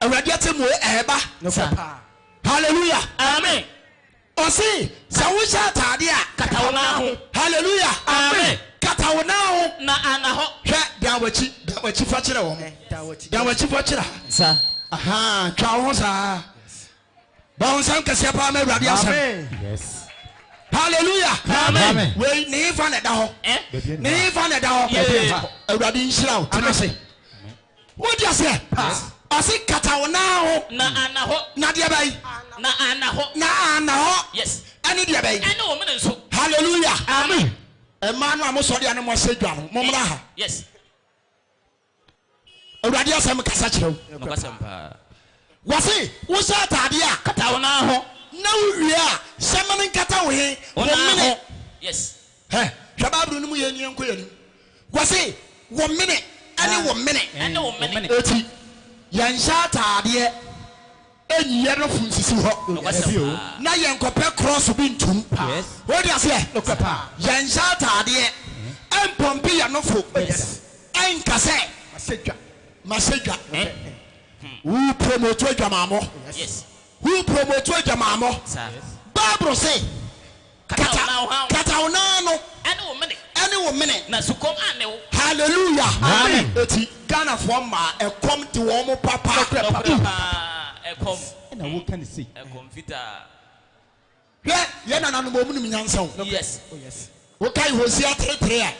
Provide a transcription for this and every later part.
awurade atemmuo ɛɛba sa hallelujah amen ɔse sɛ wohyɛ ataade a kata wo nan ho hallelujah amen kata wo nan ho na ana hɔ hwɛ dan wakyi dan wakyi fa kyerɛ wɔn dan wakyi fa kyerɛ ha aha twa wo ho saa bɔnsam kɛseɛ paa ma awurade asɛm hallelujah amen wei ne hefa na ɛda hɔ ne hefa na ɛda hɔ awurade nhyira wo tena ase wodi aseɛ ɔse kata wo nan ho na ana hɔ na deɛ bɛyi na ana hɔ na ana hɔ ɛne deɛ bɛyi ɛne wo mene nso hallelujah amen ɛmaa no a mosɔre a ne moasɛ dwa no mommra ha yes Awurade asɛm kasa kyerɛ wo. Nokwasɛm paa. Wɔse wohyɛ ataadeɛ a, kata wo nan ho. Na wowie a, hyɛ mene nkata wo he? Wo nan ho. Wɔmene. Yes. Hɛ, hwɛ Bible no mu yie ne yɛnkɔ yɛn anim. Wɔse wɔmene ne womene. Ɛne womene. Eti, yɛnhyɛ ataadeɛ. Ɛyi yɛ nofo nsisi hɔ. Na yɛn kɔpɛ krɔso bi ntum. Wode aseɛ? Yɛnhyɛ ataadeɛ, ɛnpɔmpe yɛ nofo, ɛnka sɛ mahyɛ dwa. Wo promotu adwamammɔ. Wo promotu adwamammɔ. Bible se Kata wo nan ano. Kata wo nan ano. Ɛne wo mene. Ɛne wo mene. Na sukɔm anne wo. Hallelujah. Amen. Eti Ghana foɔ mmaa ɛkɔm de wɔn papa. Nɔkorɛ paa. Nɔkorɛ paa ɛkɔm. Ɛna wo ka ne sei. Ɛkɔm fitaa. Hwɛ yɛn nananom wɔn nim nyansa o. Yes. Wokae Hosea three three a.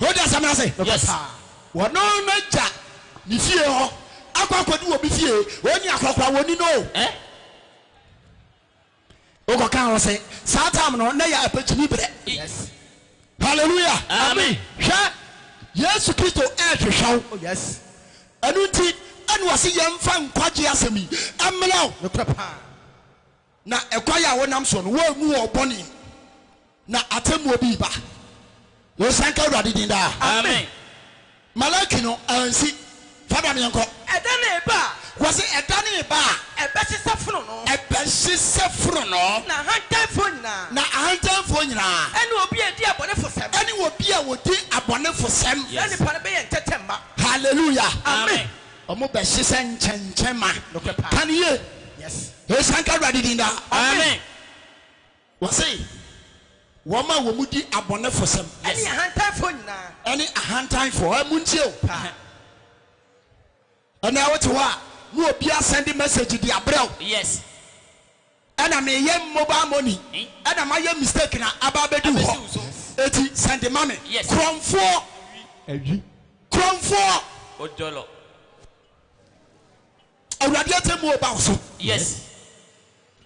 Wote asɛm no ase? Nokorɛ Yes. paa. Wɔno no gya ne fie hɔ akɔ akɔdi obi fie, ɔnni akɔkora, wɔnni no o. Eh? Wokɔ ka ho se, saa time no na yɛ apɛkyimi berɛ. Yes. Hallelujah. Amen. Hwɛ, Yesu Kristo rehwehwɛ wo. Oh yes. Ɛno nti na ɔse yɛmfa nkwagyeɛ asɛm yi mmrɛ wo. Nokorɛ paa. Na ɛkwae a wonam soɔ no, woannu wɔn bɔne, na atemmuo bi reba. Yɛsanka Awurade din daa. Amen. Malaki no ansi. Fa ba no yɛnkɔ. Ɛda no reba a. Wɔse ɛda no reba a. Ɛbɛsesɛ fononoo. Ɛbɛsesɛ fononoo. Na ahantanfoɔ nyinaa. Na ahantanfoɔ nyinaa. Ɛne obi a ɔdi abɔnefosɛm. Ɛne obi a ɔdi abɔnefosɛm. Saa nipa no bɛyɛ ntɛtɛ mma. Hallelujah. Amen. Wɔbɛhye sɛ nkyɛnkyɛn ma. Nokorɛ paa. Ka no yie. Yes. Nhyira nka Awurade din daa. Amen. Wɔse, Wɔn a wɔdi abɔnefosɛm. Yes. Ɛne ahantanfoɔ nyinaa. Ɛne ahantanfoɔ. Ɛ, montie o. Paa. Ɛnnɛ wote hɔ a, na obi asɛnde message de abrɛ wo. Yes. Ɛna meyɛ mobile money ɛna mayɛ mistake na aba abɛdu hɔ ɛti sɛnde ma me korɔmfoɔ korɔmfoɔ awurade atɛmuo ba wo so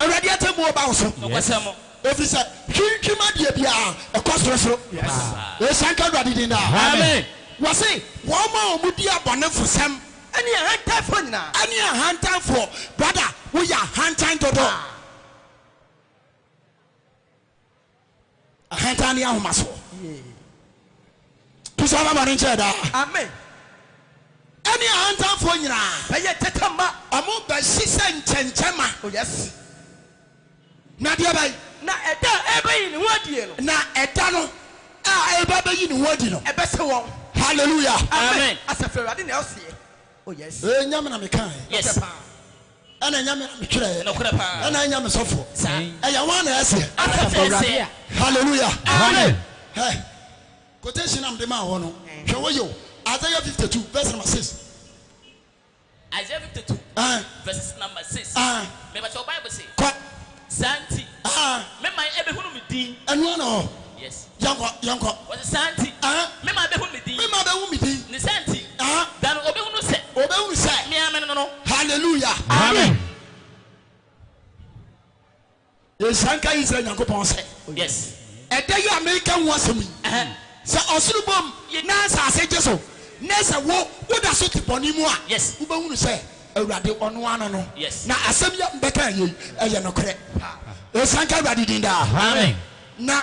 awurade atɛmuo ba wo so ɛfiri sɛ hwintwim adeɛ biara ɛkɔ soro soro ɛhyɛ nka awurade din daa wɔse wɔn a wɔn di abɔnefosɛm Ɛne ahantanfoɔ nyinaa. Ɛne ahantanfoɔ. Brada woyɛ ahantan dodo. Ah. Ahantan ne ahomasoɔ. Yeah. Tusa ama bɔne nkyɛɛ daa. Amen. Ɛne ahantanfoɔ nyinaa. Bɛyɛ tɛtɛmma. Ɔmo bɛhyehyɛ nkyɛnkyɛma. Oh yes. Na deɛ bɛn? Na ɛda a ɛrebɛyi ne ho adie no. Na ɛda no a ɛreba abɛyi ne ho adi no. Ɛbɛsɛ wɔn. Hallelujah. Amen. Asafo Awurade na ɔseɛ. Oh yes. Ee Nyame na mekaaɛ. Yes. Nokorɛ paa. Ɛna Nyame na metwerɛɛ. Nokorɛ paa. Ɛna Nyame sɔfoɔ. Saa. Ɛyɛ hwan na ɛseɛ? Asafo Awurade a. Hallelujah. Amen. Hɛ, quotation a mede maa hɔ no, hwɛ wo yɛ o, Isaiah 52 verse number 6. Isaiah 52 verses number 6 me pakyɛw bible se saa nti me man ɛbehunu me din yes wɔse saa nti me man ɛbehunu me din ne saa nti da no ɔbehunu sɛ me ara mene no no hallelujah amen. Nhyira nka Israel Nyankopɔn sɛ ɛda yi a mereka ho asɛm yi, sɛ ɔsoro bom na asase gye so, na sɛ wo, woda so te bɔne mu a, wobɛhunu sɛ Awurade ɔno ara no, na asɛm yi a mebɛka ɛnnɛ yi, ɛyɛ nokorɛ. Nhyira nka Awurade din daa. Na.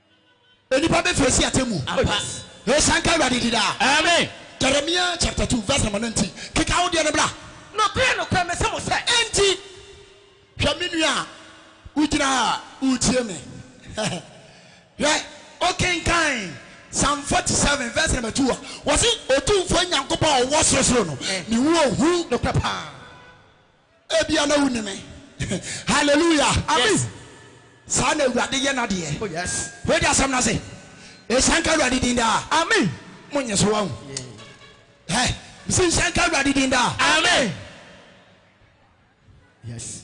Nnipa bɛfiri asi atemmu. Ampa. Nhyira nka Awurade din daa. Amen. Jeremia chapter two verse number nineteen, Keka wo deɛ no bra. Nokorɛ, nokorɛ, mese mo sɛ. Enti, hwɛ me nua a wogyina ha a woretie me, hwɛ, wokenkan Psalm forty seven verse number two a, wɔse, Otumfoɔ Nyankopɔn a ɔwɔ sorosoro no, ne ho ohu. Nokorɛ paa. Ebia na wunni me. Hallelujah! Ami! Saa na Awurade yɛ n'adeɛ. Oh yes. Wode asɛm no ase. Nhyɛ nka Awurade din daa. Ami! Monye so wahu. Hɛ! Mesi nhyɛ nka Awurade din daa. Ami! Yes.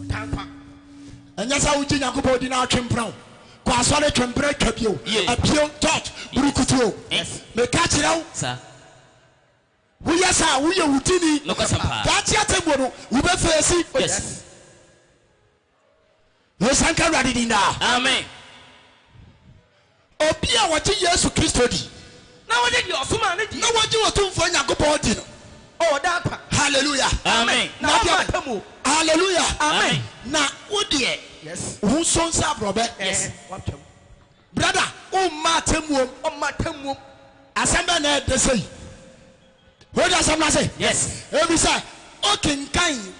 ɔtaa nkwa. Ɛnyɛ sɛ wogye Nyankopɔn di na atwe mpena o, kɔ asɔre twe mpena twa bi o, apue o, church, burukutu o. Meka kyerɛ wo, woyɛ saa a, woyɛ wo tini. Daakye atemmuo no, wobɛfeesi. Yɛsan ka Awurade din daa. Amen. Obi a ɔgye Yesu Kristo di. Na ɔgye deɛ ɔsomaa no die. Na ɔgye Otumfoɔ Nyankopɔn di no. Ɔda nkwa. Hallelujah. Amen. Na ɔmma atemmuo. Hallelujah. Amen. Na wo deɛ. Yes. Wo nso nsa aborɔbɛ. Yes. Watwam. Brother, womma atemmuom. Ɔmma atemmuom. Asɛm bɛn na ɛde sɛ yi? Wode asɛm no ase? Yes. Ɛfiri sɛ, wokenkan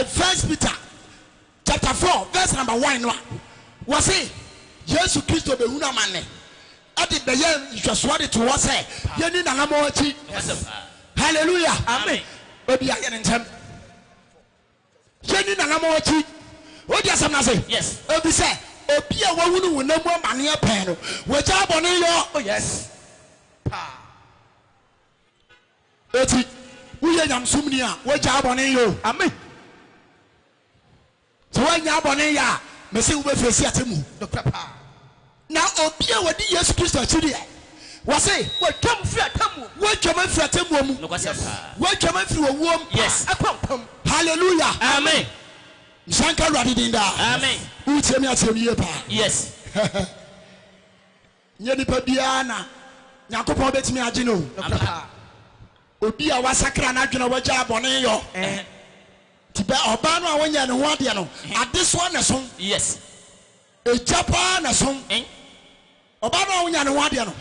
First Peter chapter four verse number one no a, wɔse Yesu Kristo bɛhunu amanne de bɛyɛ nhwɛsoɔ de to hɔ sɛ yɛnni n'anammɔn akyi. Hallelujah! Obi ayɛ ne ntɛm. Yɛnni n'anammɔn akyi. Wodi asɛm no ase? Ɛfiri sɛ obi a wahunu honam mu amanneɛ pɛn no, wagyaa bɔne yɔ. Eti woyɛ nyamesomni a, wagyaa bɔne yɔ. Sɛ woannyaa bɔne nyɛ a, mese wobɛfiri asi atemmu. Nokorɛ paa, na obi a ɔdi Yesu Kristo akyi deɛ, wɔse, wɔatwam firi atemmuo mu. Wɔatwam afiri atemmuo mu. Nokwasɛm paa. Wɔatwam afiri owuo mu paa Yes. akɔ nkwa mu. Hallelujah! Amen. Nhyira nka Awurade din daa. Amen. Woretie me aseɛ no yie paa. Yes. Nyɛ nipa biara na Nyankopɔn bɛtumi agye no o. Nokorɛ paa. Obi a wasakra n'adwene a wagyaa bɔne yɔ. Nti bɛ ɔbaa no a ɔnyɛɛ ne ho adeɛ no, adesoa na ɛsom. Yes. Egya paa na ɛsom. Ɔbaa no a ɔnyaa ne ho adeɛ no,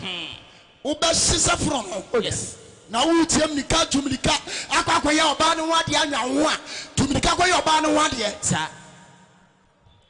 wobɛhye sɛ fononoo. Oh yes. Na woretia mmirika, tu mmirika akɔ akɔyɛ ɔbaa no ho adeɛ anwa wo ho a, tu mmirika kɔyɛ ɔbaa no ho adeɛ. Saa.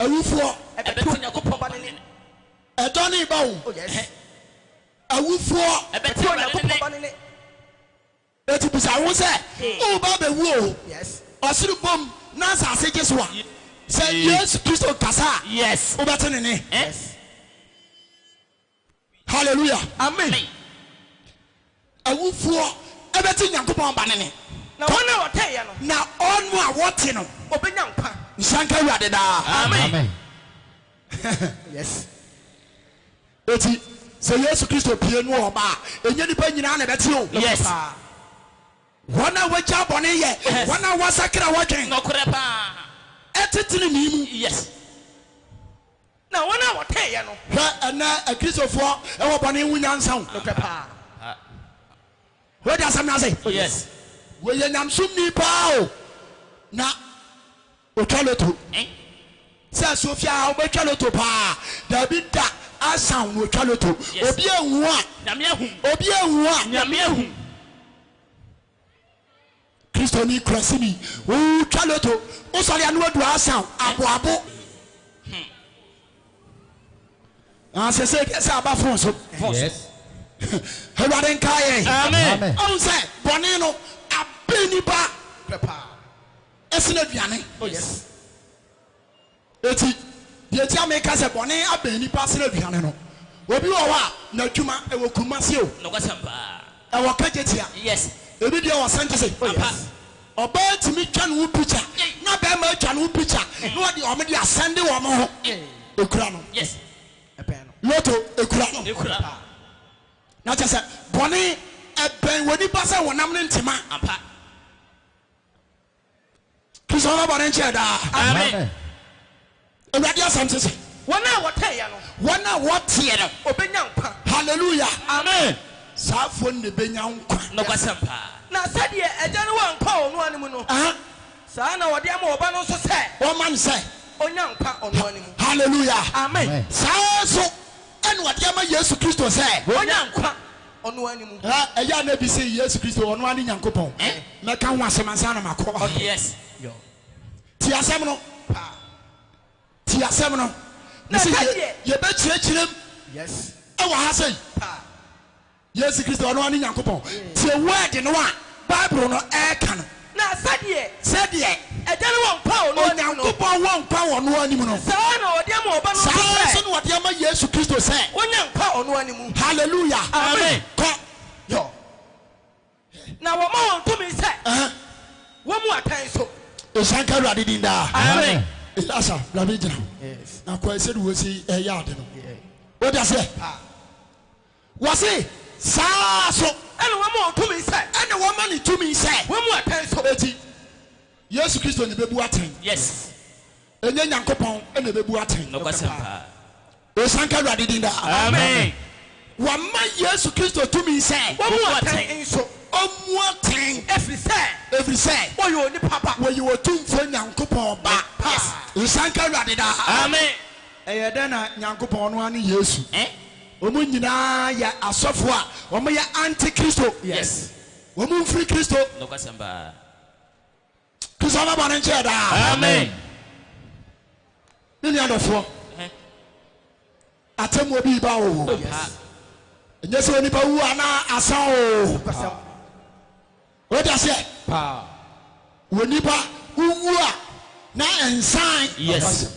Awufoɔ, ɛbɛte Onyankopɔn Ba no nne. Ɛdɔ no reba o. Oh yes. Awufoɔ, ɛbɛte Onyankopɔn Ba no nne. Enti bisa wo ho sɛ, woreba abɛwu o, ɔsoro bom na asase gye so a, sɛ Yesu Kristo kasa a, wobɛte ne nne? Hallelujah. Amen. Awufoɔ bɛte Nyankopɔn ba no nne. Na wɔn a wɔteeɛ no. Na wɔn a wɔte no. Wɔbɛnya nkwa. Nhyira nka Awurade daa. Amen. Yes. Eti sɛ Yesu Kristo pue no ɔba a, ɛnyɛ nnipa nyinaa na ɛbɛte o. Yes. Paa. Wɔn a wɔagyaa bɔne yɛ. Yes. Wɔn a wɔasakra wɔdwen. Nokorɛ paa. Ɛte tenenee mu. Yes. Na wɔn a wɔteeɛ no. Hwɛ, ɛnnɛ Akristofoɔ wɔ bɔne ho nyansa o. Nokorɛ paa. Wote asɛm no ase? Oh yes. Wɔyɛ nyamesomni paa o, na wɔtwa loto. Ɛn? Sɛ Sofia a, wobɛtwa loto paa? Daabi da, Asaw na ɔtwa loto. Yes. Obi anhu a. Nyame ahu. Obi anhu a. Nyame ahu. Kristoni kurasini, ooh, twa loto, wosɔre a na wadu Asa o, aboabo. Hmm. Na sɛsɛ deɛ sɛ aba fon so. Yes. Awurade nkaa yɛ. Amen. Ɔn sɛ bɔne no abɛ nipa pɛ paa ɛsene aduane. Oh yes. Enti, deɛ enti a meka sɛ bɔne abɛn nnipa sene aduane no, obi wɔ hɔ a, n'adwuma, ɛwɔ Kumasi o, Nokwasɛm paa. ɛwɔ Kagyetia, Yes. ebi deɛ wɔ Santese, Oh Ampa. yes. Ɔbaa tumi twa ne ho picture, Ei. na barima atwa ne ho picture, na wɔde wɔn de asɛnde wɔn ho. Ei. Ɛkura no. Yes. Ɛbɛn no. Lotto, ɛkura no. Ɛkura no. Paa. Na kyerɛ sɛ, bɔne ɛbɛn wɔ nnipa sɛ honam ne ntema. Ampa. Kristo no bɔne nkyɛ daa. Amen. Awurade asɛm te se. Wɔn a wɔteɛ no. Wɔn a wɔteɛ no. Obenya nkwa. Hallelujah. Amen. Saa fo no na ebenya nkwa. Nokwasɛm paa. Na sɛdeɛ Agya no wɔ nkwa wɔ ɔno ara ne mu no, saa ara na ɔde ama Ɔba no nso sɛ. Wɔma no sɛ. Ɔnya nkwa ɔno ara ne mu. Hallelujah. Amen. Saa ara nso na ɔde ama Yesu Kristo sɛ. Ɔnya nkwa. ɔno ara ne mu. Ɛ, ɛyɛ a na bi se Yesu Kristo, ɔno ara ne Nyankopɔn. Ɛ, mɛka ho asɛm ansa na makɔ. Ɔh, yes, yo. Tie asɛm no. Pa. Tie asɛm no. Na ɛka deɛ. Mese, ye, yɛbɛkyerɛkyerɛ mu. Yes. Ɛwɔ ha sei. Pa. Yesu Kristo, ɔno ara ne Nyankopɔn. Tie word no a Bible no ɛreka no. Na sɛdeɛ. Sɛdeɛ. Agya no wɔ nkwa wɔ Ɔno anim no. Onyankopɔn wɔ nkwa wɔ Ɔno anim no. Saa ara na Ɔde ama Ɔba no nso sɛ. Saa ara nso na Ɔde ama Yesu Kristo sɛ. Ɔnya nkwa wɔ Ɔno anim. Hallelujah. Amen. Kɔ. Yɔ. Na wɔma wɔn tumi sɛ. Wɔmmu atɛn nso. Nhyira nka Awurade din daa. Amen. Elasah, bra bɛgyina hɔ. Yes. Na kɔ sɛdeɛ wɔsi yɛ ade no. Wote aseɛ? Paa. Wɔse, Saa ara nso. Ɛne wɔma wɔn tumi sɛ. Ɛne wɔma no tumi sɛ. Wɔmmu atɛn nso. Enti, Yesu Kristo na ɛbɛbu atɛn. Yes. Ɛnyɛ Nyankopɔn na ɛbɛbu atɛn. Nokwasɛm paa. Ɔsanka Awurade din daa. Amen. Wɔama Yesu Kristo tumi sɛ. Wɔmmu atɛn nso. Ɔmmu atɛn. Ɛfiri sɛ. Ɛfiri sɛ. Ɔyɛ onipa Ba. Ɔyɛ Otumfoɔ Nyankopɔn Ba. Paa. Ɔsanka Awurade daa. Amen. Ɛyɛ dɛn na Nyankopɔn, ɔno ara ne Yesu. Eh? Wɔn nyinaa yɛ asɔfo a wɔyɛ anti-Kristo. Yes. Wɔn mfiri Kristo. Nokwasɛm paa. Kristo ama bɔne nkyɛ daa. Amen. Me nua dɔfoɔ, atemmuo bi reba o. Yes. Ɛnyɛ sɛ onipa wu a na asa o. Nokwasɛm. Wɔde aseɛ. Paa. Onipa wowu a na nsan. Yes.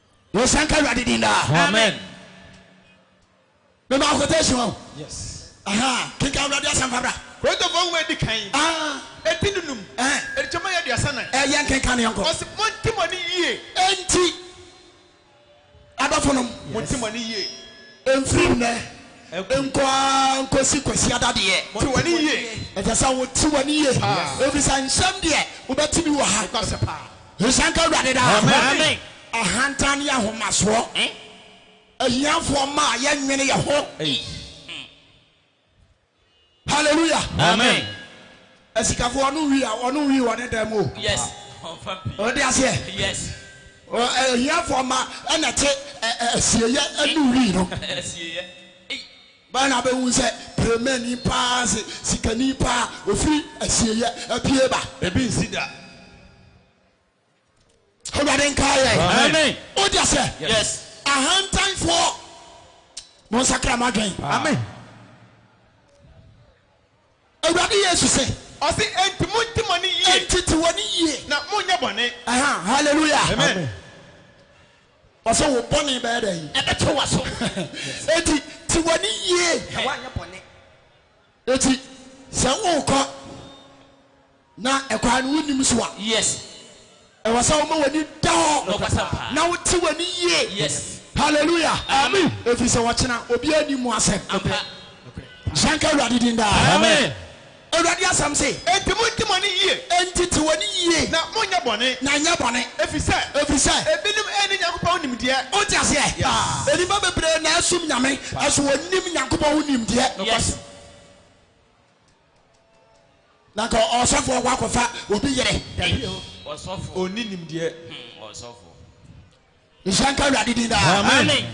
Wɔ nsa nka awurade din daa. Amen. Mema quotation wɔ. Yes. Aha kenkan awurade asɛmpa bra. Korintofoɔ nwoma edi kan. Ah. Eti du num. Ɛhɛn. Ɛrekyɛm ayɛ aduasa nan. Ɛɛ yɛn kenkan no yɛn kɔ. Ɔsi mo nti mo ani yie. Enti adɔfo nom. Mo nti mo ani yie. Ɛnfiri nnɛ nkɔ ara nkɔsi kwasiada deɛ. Mo ti w'ani yie. Ɛsɛ sɛ wo ti w'ani yie. Paa. Ɛfiri sɛ nsɛm deɛ wobɛte bi wɔ ha. Nokwasɛ paa. Nhyira nka Awurade daa. Amen. Ahantan yɛ ahomasoɔ. Ahiafoɔ mma a yɛnnwene yɛ ho. Hallelujah. Amen. Asikafoɔ ɔno wii a ɔno wii wɔ ne dan mu o. Yes. Ɔde aseɛ. Yes. Ahiafoɔ mma ɛna te asieyɛ ɛnu wii no. Asieyɛ. Bɛn na bɛhu sɛ premani paa se sikani paa ofiri asieyɛ apue ba? Ebi nsi da. Awurade nkaa yɛn. Amen. Wode aseɛ? Yes. Ahantanfoɔ, monsakra mo adwen. Amen. Awurade Yesu se. Ɔse, Enti monte mo ani yie. Enti te w'ani yie. Na monnyɛ bɔne. Aha, hallelujah. Amen. Ɔse wo bɔne bɛyɛ dɛn? Ɛbɛto w'aso. Enti te w'ani yie. Na woanyɛ bɔne. Enti sɛ worekɔ Na ɛkwan no wonnim nso a. Yes. Ɛwɔ sɛ woma w'ani da hɔ. Nɔkwasɛm paa. Na wote w'ani yie. Yes. Hallelujah. Amen. Ɛfiri sɛ ɔkyena obiara nnim mu asɛm. Ampa. Nhyira nka Awurade din daa. Amen. Awurade asɛm se. Enti monte mo ani yie. Enti te w'ani yie. Na monnyɛ bɔne. Na nnyɛ bɔne. Ɛfiri sɛ. Ɛfiri sɛ. Ebinom nni Nyankopɔn nimdeɛ. Wote aseɛ? Yes. Nnipa bebree na asom Nyame, nanso wɔnnim Nyankopɔn ho nimdeɛ. Yes. Na nka ɔsɔfoɔ kɔ akɔfa obi yere. Dabi o, ɔsɔfoɔ. Ɔnni nimdeɛ. Hmm, ɔsɔfoɔ. Nhyira nka Awurade din daa. Amen.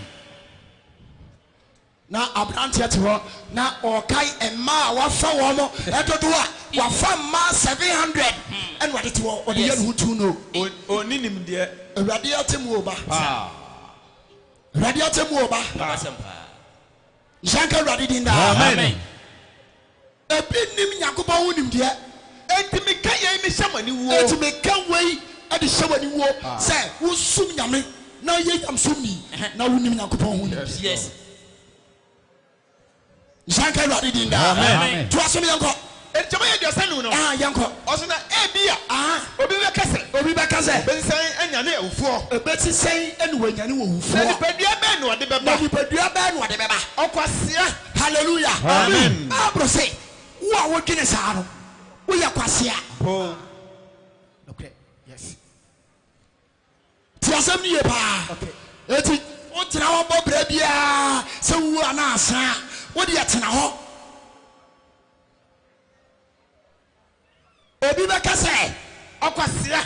Na aberanteɛ te hɔ na ɔkae mmaa a wafa wɔn mo ɛdodo a wafa mmaa 700 hmm. ɛna ɔde te hɔ ɔde yɛ ne ho tu no. Ɔnni nimdeɛ. Awurade ate mu o ba. Awurade ate mu o ba. Nhyira nka Awurade din daa. Amen. Ebi nnim Nyankopɔn ho nimdeɛ. Enti meka yei me hyɛ mo aniwuo. Enti meka wei de hyɛ wo aniwuo sɛ wonsom Nyame na yɛ nyamesomni na wonim Nyankopɔn ho nimdeɛ. Nhyira nka Awurade din daa. Toa so ne yɛnkɔ. Enti ɔbɛyɛ aduasa num no. Ɛha, yɛnkɔ. Ɔse na ebia. Aha. Obi bɛka sɛ. Obi bɛka sɛ. Obesi sɛn anyane awufoɔ. Obesi sɛn na wanyane awufoɔ. Na nipadua bɛn na ɔde bɛba. Na nipadua bɛn na ɔde bɛba. Ɔkwasea. Hallelujah. Amen. Bible se, wo a wodwene saa no, woyɛ kwasea. Boom. Nokorɛ. Yes. Tie asɛm no yie paa. Enti wogyina hɔ bɔ bra biara sɛ wuwu anaa asan a, wo deɛ tena hɔ. Obi bɛka sɛ, Ɔkwasea!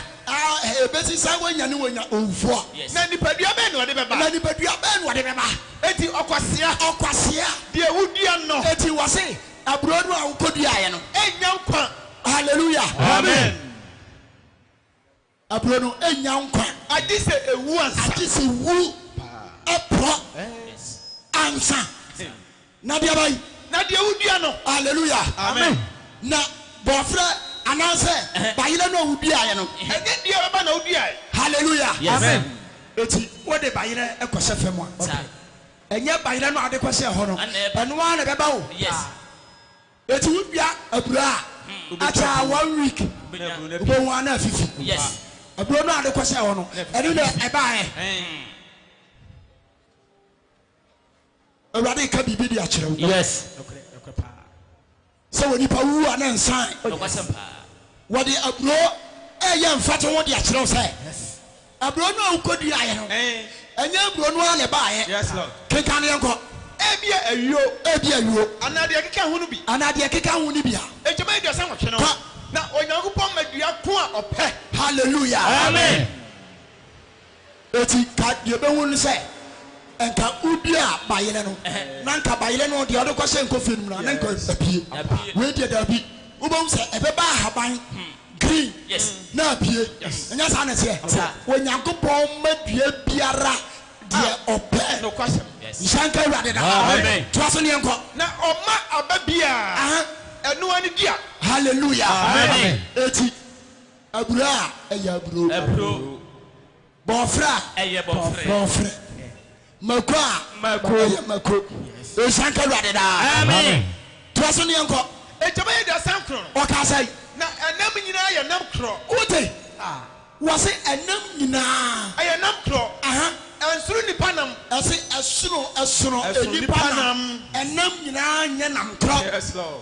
Ɛbɛsi sɛ woanya ne wonya owufoɔ. Na nipadua bɛn na ɔde bɛba? Na nipadua bɛn na ɔde bɛba? Enti ɔkwasea! Ɔkwasea! Deɛ wodua no. Enti wɔse, Aburoo no a wokɔduaeɛ no. Ɛnnya nkwa. Hallelujah. Amen. Aburɔ no nnya nkwa. Agye sɛ ewu ansa. Agye sɛ ewu aporɔ ansa. Na deɛ bɛn. Na deɛ wodua no. Aleluya. Amen. Na bɔɔferɛ anaasɛ bayerɛ no a woduaeɛ no. Ɛnyɛ deɛ ɛbɛba na woduaeɛ. Hallelujah. Amen. Eti wode bayerɛ kɔhyɛ fam a, ɛnyɛ bayerɛ no a wode kɔhyɛɛ hɔ no, ɛno ara na ɛbɛba o. Eti wo dua aburo a akyɛ a one week wobɛhu a na afifi. Aburo no a wode kɔhyɛɛ hɔ no, ɛno na ɛbaeɛ. Awurade reka biribi de akyerɛ wo sɛ onipa wu a na nsan. Wɔde aburo reyɛ mfatoho de akyerɛ wo sɛ Aburoo no a wokoduaeɛ no, ɛnyɛ aburoo no ara na ɛbaeɛ. Kenkan deɛ nkɔ. Ebia ayuo. Ebia ayuo. Anaa deɛ ɛkeka ho no bi. Anaa deɛ ɛkeka ho no bi a. Enti May aduasa nwɔtwe no, na Onyankopɔn ma dua ko a ɔpɛ. Hallelujah. Amen. Enti ka deɛ ɛbɛhu no sɛ, nka wodua a bayerɛ no, na nka bayerɛ no deɛ ɔde kɔhyɛ nkofie no mu no, na nka apue. Wei deɛ daabi. Wobɛhu sɛ ɛbɛba ahaban Green na abie, ɛnyɛ saa na ɛteɛ? Onyankopɔn ma dua biara deɛ Ɔpɛ. Nhyira nka Awurade daa. Toa so na yɛnkɔ. Na Ɔma aba biara ɛno ara ne dua. Hallelujah! Eti, aburoo a, ɛyɛ aburoo. Bɔɔfrɛ a. Ɛyɛ bɔɔfrɛ. Bɔɔfrɛ. Mako a. Mako. Ɛyɛ mako. Nhyira nka Awurade daa. Amen. Toa so ne yɛnkɔ. Enti bɛyɛ aduasa nkron no. Ɔkaa sɛn? Na ɛnam nyinaa yɛ nam korɔ. Wote? Wɔse ɛnam nyinaa. Ɛyɛ nam korɔ. Aha. Ɛnsono nnipa nam. Ɛse ɛsono, ɛsono nnipa nam. Ɛnam nyinaa nyɛ nam korɔ. Yes Lord.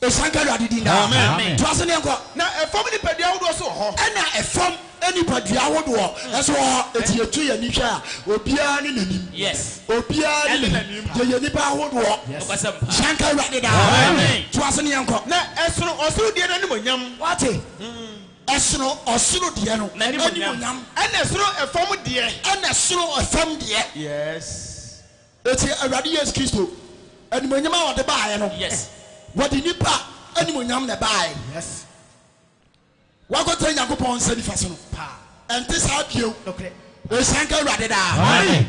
ɛhyɛ nka awurade din daa Amen. toa so ne ɛnkɔ Na ɛfam nipadua ahodoɔ nso wɔ hɔ. ɛna ɛfam nipadua ahodoɔ nso wɔ hɔ ɛti yɛtwe yɛn ani hwɛ a obiara ne n'anim Yes. obiara Ɛne ne n'anim n'anim. yɛyɛ nnipa ahodoɔ Nokwasɛm paa. hyɛ nka awurade daa Amen. toa so ne ɛnkɔ Na ɛsono ɔsoro deɛ no animuonyam. wate ɛsono ɔsoro deɛ no N'animuonyam. animuonyam Ɛna ɛsono ɛfam deɛ. ɛna ɛsono ɛfam deɛ Yes. Enti Awurade Yesu Kristo animuonyam a ɔde baeɛ no, wɔde nnipa animuonyam na ɛbaeɛ. Wɔakɔtena Nyankopɔn nsa nifa so no, ɛnte saa bio. Nhyira nka Awurade daa.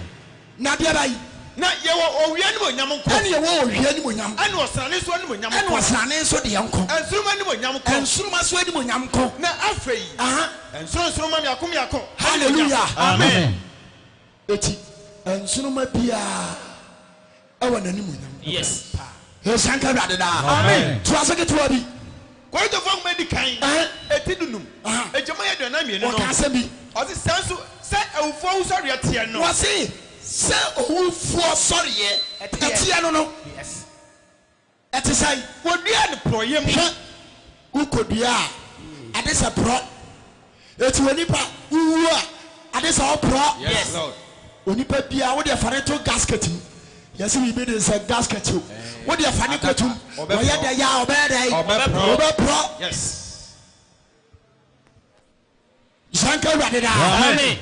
Na deɛ bɛn? Na yɛwɔ owia animuonyam nko. Ɛnna yɛwɔ owia animuonyam. Ɛnna ɔsrane nso animuonyam nko. Ɛnna ɔsrane nso deɛ nko. Nsoromma animuonyam nko. Nsoromma nso animuonyam nko. Na afei, nsorɔnsoromma mmiako mmiako. Hallelujah! Amen. Eti nsoromma biara wɔ n'animuonyam. Yes. Nhyira nka Awurade daa. Amen. Toa so ketewa bi. Korintofo Nhoma Edi Kan, eti dunum, adwumayɛ aduanan mmienu no. Wɔka asɛm bi. Wɔse, Saa nso, sɛ awufoɔ wusɔreɛ teɛ no. Wɔse, Sɛ owufoɔ sɔreɛ teɛ no no. Yes. Ɛte sɛn? Wɔduaa no porɔeɛ mu. Hwɛ, wokɔduaa ade sɛ porɔ. Enti onipa, wowuo a, ade sɛ woporɔ. Yes, Lord. Onipa biara, wodeɛ fa no to gasket mu. Yɛse biribi den sɛ gasket o. Wodeɛ fa no kɔtom. Ɔbɛporɔ. Wɔyɛ dɛn a, ɔbɛyɛ dɛn? Ɔbɛporɔ. Ɔbɛporɔ. Yes. Nhyira nka Awurade daa. Amen.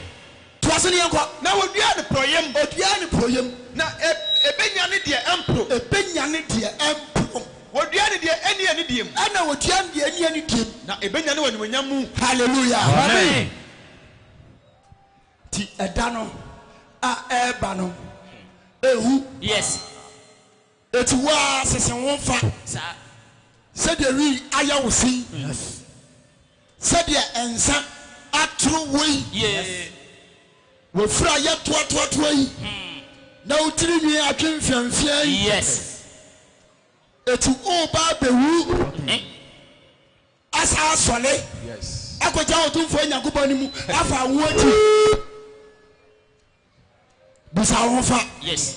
Toa so ne yɛnkɔ. Na wɔduaa no porɔeɛ mu. Wɔduaa no porɔeɛ mu. Na ɛbɛnya ne deɛ ɛmporo. Ɛbɛnya ne deɛ ɛmporo. Wɔduaa no deɛ ɛnni anidie mu. Ɛna wɔduaa no deɛ ɛnni anidie mu. Na ɛbɛnya no wɔ animuonyam mu. Hallelujah. Amen. Nti ɛda no a ɛreba no ɛhu. Yes. Eti wo ara sese wo mfa sɛdeɛ wii ayɛ wo se yi, sɛdeɛ nsa atoro wo yi, w'afiri a ayɛ toatoatoa yi, na wo tiri nwi atwe mfeamfeaa yi. Eti woreba abɛwu asan asɔre akɔgyina Otumfoɔ Nyankopɔn anim afa awoɔ akyi. bisa wo ho fa yes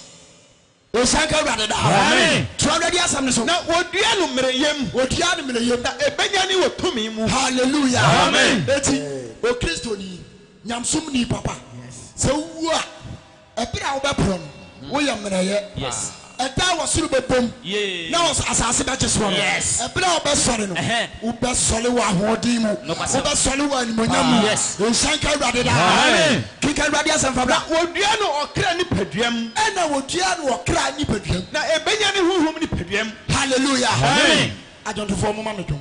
ɔhyɛ nka awurade daa amen tura awurade asɛm no so na wɔdua no mmerɛyɛ mu wɔdua no mmerɛyɛ mu na ɛbɛnya ne wɔ tumi mu hallelujah amen eti okristoni nyamsom ni papa sɛ wuwu a ɛberɛ a wobɛporɔ no woyɛ mmerɛyɛ yes Ɛda a ɔsoro bɛbom na asase bɛgye soɔ no, ɛberɛ a wobɛsɔre no, wobɛsɔre wɔ ahoɔden mu, wobɛsɔre wɔ animuonyam mu. Nhyira nka Awurade daa. Kenkan Awurade asɛm fa bra. Na wɔdua no ɔkra nipadua mu. Ɛna wɔdua no ɔkra nipadua mu. Na ɛbɛnya ne honhom nipadua mu. Hallelujah. Adwontofoɔ, momma me dwom.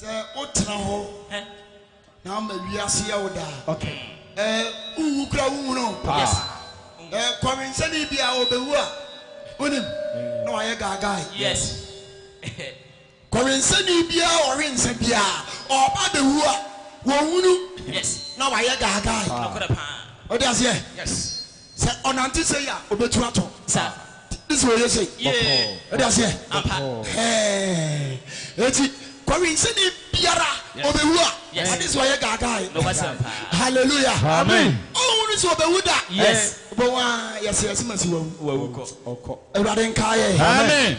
Sɛ wotena hɔ na ama wiase yɛ wo daa. Okay. Eh, wuwu kura wunhunu. Yes. Eh, kɔwensani bi a obewu a, wonim, na wayɛ gaagae. Yes. Kɔwensani biara a ɔwe nsa biara, ɔba bewu a, wɔnwunu. Yes. Na wayɛ gaagae. Nokore paa. Ɔde aseɛ. Yes. Sɛ ɔnante sei a, ɔbɛtu atɔ. Sa ne sɛ ɔyɛ sei. Bɔkɔɔ. Wode aseɛ? Ampa. Hɛɛ. Enti Kowinsini biara Yes. ɔbɛwu a, Yes. ade sɛ ɔyɛ gaagaae. Nokwasɛm paa. Hallelujah. Amen. Ɔnhunu sɛ ɔbɛwu da. Yes. Wobɛhu ara, yɛse yɛse ma si wawu. Wawu kɔ. Ɔkɔ. Awurade nkae yɛn. Amen.